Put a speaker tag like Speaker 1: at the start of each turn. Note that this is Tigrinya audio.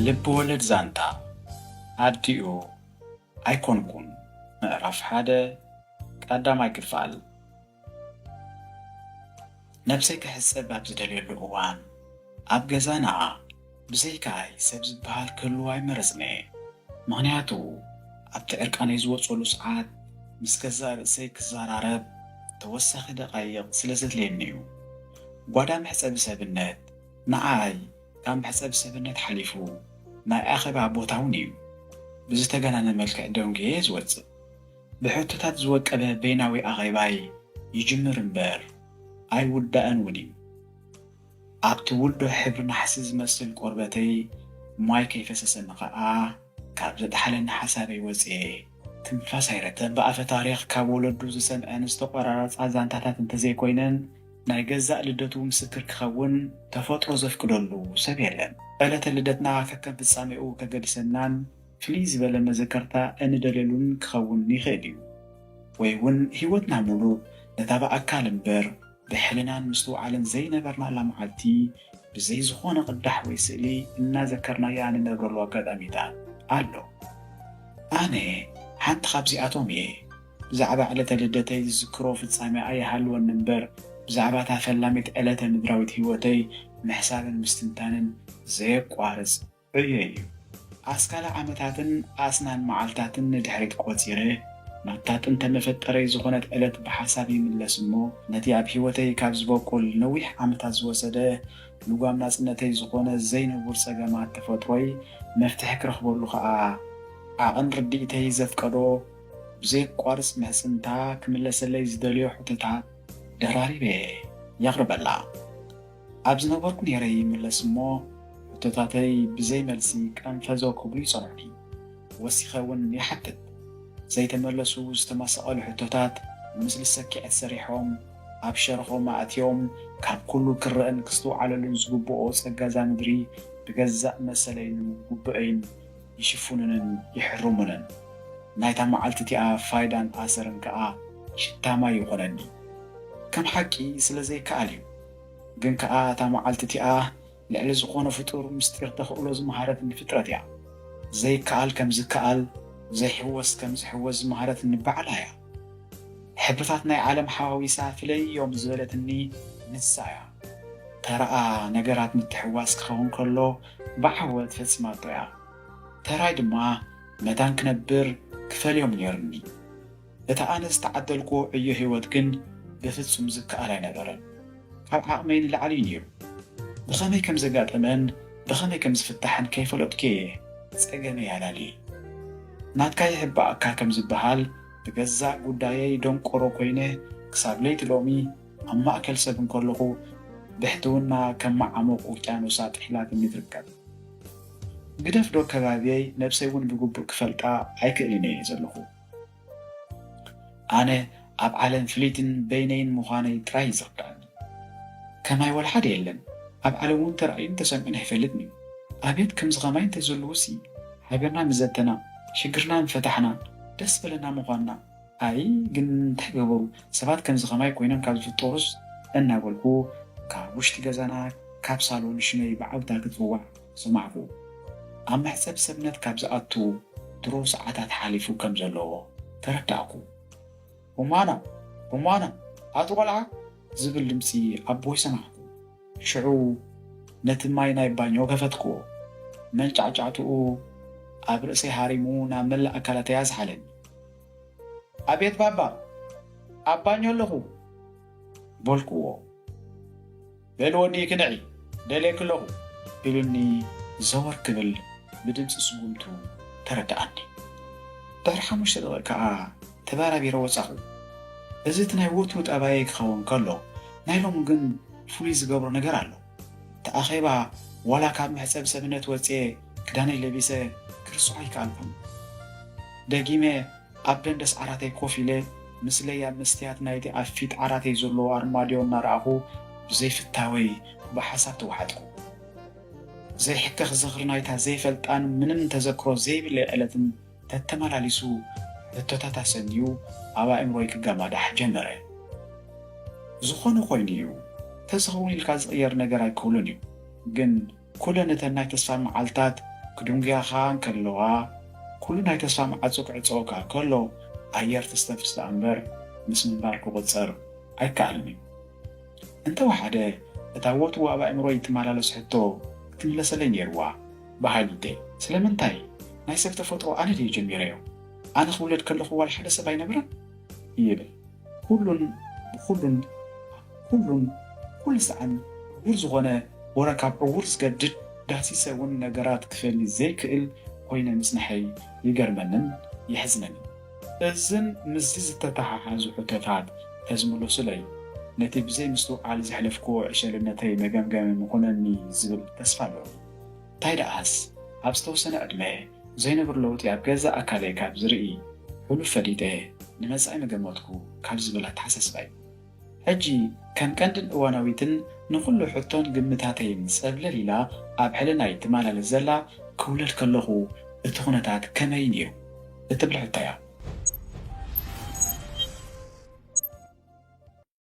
Speaker 1: ልብ ወለድ ዛንታ ኣዲኡ ኣይኮንኩን ምዕራፍ ሓደ ቃዳማይ ክፋል ነብሰይ ክሕጸብ ኣብ ዝደልየሉ እዋን ኣብ ገዛና ብዘይካይ ሰብ ዝበሃል ክህልው ኣይመረጽን'የ ምኽንያቱ ኣብቲ ዕርቃነይ ዝወጸሉ ሰዓት ምስ ገዛእ ርእሰይ ክዘራረብ ተወሳኺ ደቓይቕ ስለ ዘድልየኒ'ዩ ጓዳ መሕጸቢ ሰብነት ንዓይ ካብ መሕጸቢ ሰብነት ሓሊፉ ናይ ኣኼባ ቦታ'ውን እዩ። ብዝተጋነነ መልክዕ ደንጉየ'የ ዝወጽእ። ብሕቶታት ዝወቀበ በይናዊ ኣኼባይ ይጅምር እምበር ኣይውዳእን'ውን እዩ። ኣብቲ ውልዶ ሕብሪ ናሕሲ ዝመስል ቆርበተይ ማይ ከይፈሰሰኒ ከኣ ካብ ዘጥሓለኒ ሓሳበይ ወጺኤ፣ ትንፋስ ኣይረተን ብኣፈ ታሪኽ ካብ ወለዱ ዝሰምዐን ዝተቆራረፃ ዛንታታት እንተዘይኮይነን ናይ ገዛእ ልደቱ ምስክር ክኸውን ተፈጥሮ ዘፍቅደሉ ሰብ የለን። ዕለተ ልደትና ከከም ፍፃሜኡ ከገድሰናን ፍልይ ዝበለ መዘከርታ እንደልየሉን ክኸውን ይኽእል እዩ። ወይ እውን ህይወትና ሙሉእ ነታ ብኣካል እምበር ብሕልናን ምስትውዓልን ዘይነበርናላ መዓልቲ ብዘይ ዝኾነ ቅዳሕ ወይ ስእሊ እናዘከርናያ እንነብረሉ ኣጋጣሚታት ኣሎ። ኣነ ሓንቲ ካብዚኣቶም እየ። ብዛዕባ ዕለተ ልደተይ ዝዝክሮ ፍጻሜ ኣይሃልወኒ እምበር ብዛዕባ እታ ፈላሚት ዕለተ ምድራዊት ህይወተይ ምሕሳብን ምስትንታንን ዘየቋርጽ ዕዮይ'ዩ። ኣስካለ ዓመታትን ኣስናን መዓልታትን ንድሕሪት ቆጺረ፣ ናብታ ጥንተ መፈጠረይ ዝኾነት ዕለት ብሓሳብ ይምለስ እሞ፣ ነቲ ኣብ ህይወተይ ካብ ዝበቁል ነዊሕ ዓመታት ዝወሰደ ልጓም ናጽነተይ ዝኾነ ዘይንቡር ጸገማት ተፈጥሮይ መፍትሒ ክረኽበሉ ከኣ ዓቕን ርድኢተይ ዘፍቀዶ ብዘየቋርጽ ምሕጽንታ ክምለሰለይ ዝደልዮ ሕቶታት ደራሪበ የቕርበላ። ኣብ ዝነበርኩ ነይረ ይምለስ እሞ ሕቶታተይ ብዘይ መልሲ ቀንፈዞ ክብሉ ይጸንሑኒ። ወሲኸ እውን ይሓትት። ዘይተመለሱ ዝተመሰቐሉ ሕቶታት ንምስሊ ሰኪዐት ሰሪሖም ኣብ ሸርኾም ኣእትዮም ካብ ኩሉ ክረእን ክስትውዓለሉን ዝግብኦ ጸጋ እዛ ምድሪ ብገዛእ መሰለይን ጉቡኤይን ይሽፉኑንን ይሕርሙንን። ናይታ መዓልቲ እቲኣ ፋይዳን ኣሰርን ከኣ ሽታ ማይ ይኾነኒ። ከም ሓቂ ስለ ዘይከኣል እዩ። ግን ከኣ እታ መዓልቲ እቲኣ ልዕሊ ዝኾነ ፍጡር ምስጢር ተኽእሎ ዝመሃረትኒ ፍጥረት እያ። ዘይከኣል ከም ዝከኣል፣ ዘይሕወስ ከም ዝሕወስ ዝመሃረትኒ ባዕላ እያ። ሕብርታት ናይ ዓለም ሓዋዊሳ ፍለይዮም ዝበለትኒ ንሳ እያ። ተራኣ ነገራት ምትሕውዋስ ክኸውን ከሎ ብዓወት ፈጺማቶ እያ። ተራይ ድማ መታን ክነብር ክፈልዮም ኔሩኒ። እቲ ኣነ ዝተዓደልክዎ ዕዮ ህይወት ግን ብፍጹም ዝከኣል ኣይነበረን። ካብ ዓቕመይ ንላዕሊ እዩ ነይሩ። ብኸመይ ከም ዘጋጠመን ብኸመይ ከም ዝፍታሕን ከይፈለጥኩ እየ ጸገመይ ኣላልየ። ናትካ ይሕባእካ ከም ዝበሃል፣ ብገዛእ ጉዳየይ ደንቆሮ ኰይነ ክሳብ ለይቲ ሎሚ ኣብ ማእከል ሰብ እንከለኹ ብሕትውና ከም መዓሙቕ ውቅያኖሳ ጥሒላትኒ ትርከብ። ግደፍዶ ከባብየይ ነብሰይ እውን ብግቡእ ክፈልጣ ኣይክእልን እየ ዘለኹ። ኣነ ኣብ ዓለም ፍልይትን በይነይን ምዃነይ ጥራይ እዩ ዝርድኣኒ። ከማይ ወልሓደ የለን፣ ኣብ ዓለም'ውን ተራእዩን ተሰሚዑን ኣይፈልጥን እዩ። ኣቤት ከምዚ ከማይ እንተዝህልውሲ ሃገርና ምዘተና፣ ሽግርና ምፈታሕና፣ ደስ በለና ምዃንና። ኣይ ግን እንታይ ገበሩ ሰባት ከምዚ ከማይ ኮይኖም ካብ ዝፍጠሩስ እናበልኩ ካብ ውሽጢ ገዛና ካብ ሳሎን ሽመይ ብዓውታ ክጽዋዕ፣ ሰማዕኩ። ኣብ መሕጸብ ሰብነት ካብ ዝኣቱ ድሮ ሰዓታት ሓሊፉ ከም ዘለዎ ተረዳእኩ። ሮማና! ሮማና! ኣቲ ቆልዓ! ዝብል ድምጺ ኣቦይ ሰማዕኩ። ሽዑ ነቲ ማይ ናይ ባኞ ከፈትክዎ። መንጫዕጫዕትኡ ኣብ ርእሰይ ሃሪሙ ናብ መላእ ኣካላተይ ኣዝሓለኒ። ኣቤት ባባ! ኣብ ባኞ ኣለኹ! በልክዎ። በል ወዲ ክንዒ ደልየኪ ኣለኹ ኢሉኒ ዘወር ክብል ብድምጺ ስጉምቱ ተረደኣኒ። ድሕሪ ሓሙሽተ ደቒቕ ከኣ ተበራቢረ ወጻኹ። እዚ እቲ ናይ ወትሩ ጠባየይ ክኸውን ከሎ ናይ ሎሚ ግን ፍሉይ ዝገብሮ ነገር ኣሎ። እቲ ኣኼባ ዋላ ካብ መሕጸቢ ሰብነት ወጺኤ ክዳነይ ለቢሰ ክርስዖ ኣይከኣልኩን። ደጊመ ኣብ ደንደስ ዓራተይ ኮፍ ኢለ፣ ምስለይ ኣብ መስትያት ናይቲ ኣብ ፊት ዓራተይ ዘሎ ኣርማድዮ እናረኣኹ ብዘይፍታወይ ብሓሳብ ተዋሓጥኩ። ዘይሕከኽ ዝኽሪ ናይታ ዘይፈልጣን ምንም ተዘክሮ ዘይብለይ ዕለትን ተተመላሊሱ ሕቶታት ኣሰንዩ ኣብ ኣእምሮይ ክገማዳሕ ጀመረ። ዝኾነ ኮይኑ እዩ፣ ተዝኸውን ኢልካ ዝቕየር ነገር ኣይክህሉን እዩ፣ ግን ኩለን እተን ናይ ተስፋ መዓልታት ክድንጉያኻ እንከለዋ፣ ኩሉ ናይ ተስፋ መዓጹ ክዕጸወካ ከሎ፣ ኣየር ተስተፍስ ደኣ እምበር ምስ ምንባር ክቑጸር ኣይከኣልን እዩ። እንተ ወሓደ እታ ወትሩ ኣብ ኣእምሮይ እትመላለስ ሕቶ ክትምለሰለይ ነይሩዋ። ብሃይልደይ። ስለምንታይ? ናይ ሰብ ተፈጥሮ ኣነ ድየ ጀሚረዮ? ኣነ ክውለድ ከለኹ ዋላ ሓደ ሰብ ኣይነበረን? ይብል ኩሉን ብኩሉን ኩሉን ኩሉ ሳዕን ዕዉር ዝኾነ ወረ ካብ ዕዉር ዝገድድ ዳህሲሰ ውን ነገራት ክፈሊ ዘይክእል ኮይነ ምጽንሐይ ይገርመንን የሕዝነንን እዝን ምስዚ ዝተተሓሓዙ ሕቶታት ተዝምሉሱለይ ነቲ ብዘይ ምስትውዓል ዘሕለፍክዎ ዕሸልነተይ መገምገሚ ምኹነኒ ዝብል ተስፋ ኣለኒ። ታይ ደኣስ ኣብ ዝተወሰነ ዕድመ ዘይነብር ለውጢ ኣብ ገዛእ ኣካለይ ካብ ዝርኢ ሕሉፍ ፈሊጠ ንመፃኢ ምገመትኩ ካብ ዝብል ኣተሓሳስባ እዩ ሕጂ ከም ቀንድን እዋናዊትን ንኹሉ ሕቶን ግምታተይን ፀብለል ኢላ ኣብ ሕልናይ ትማላለስ ዘላ ክውለድ ከለኹ እቲ ኩነታት ከመይ ነይሩ እትብል ሕቶ እያ።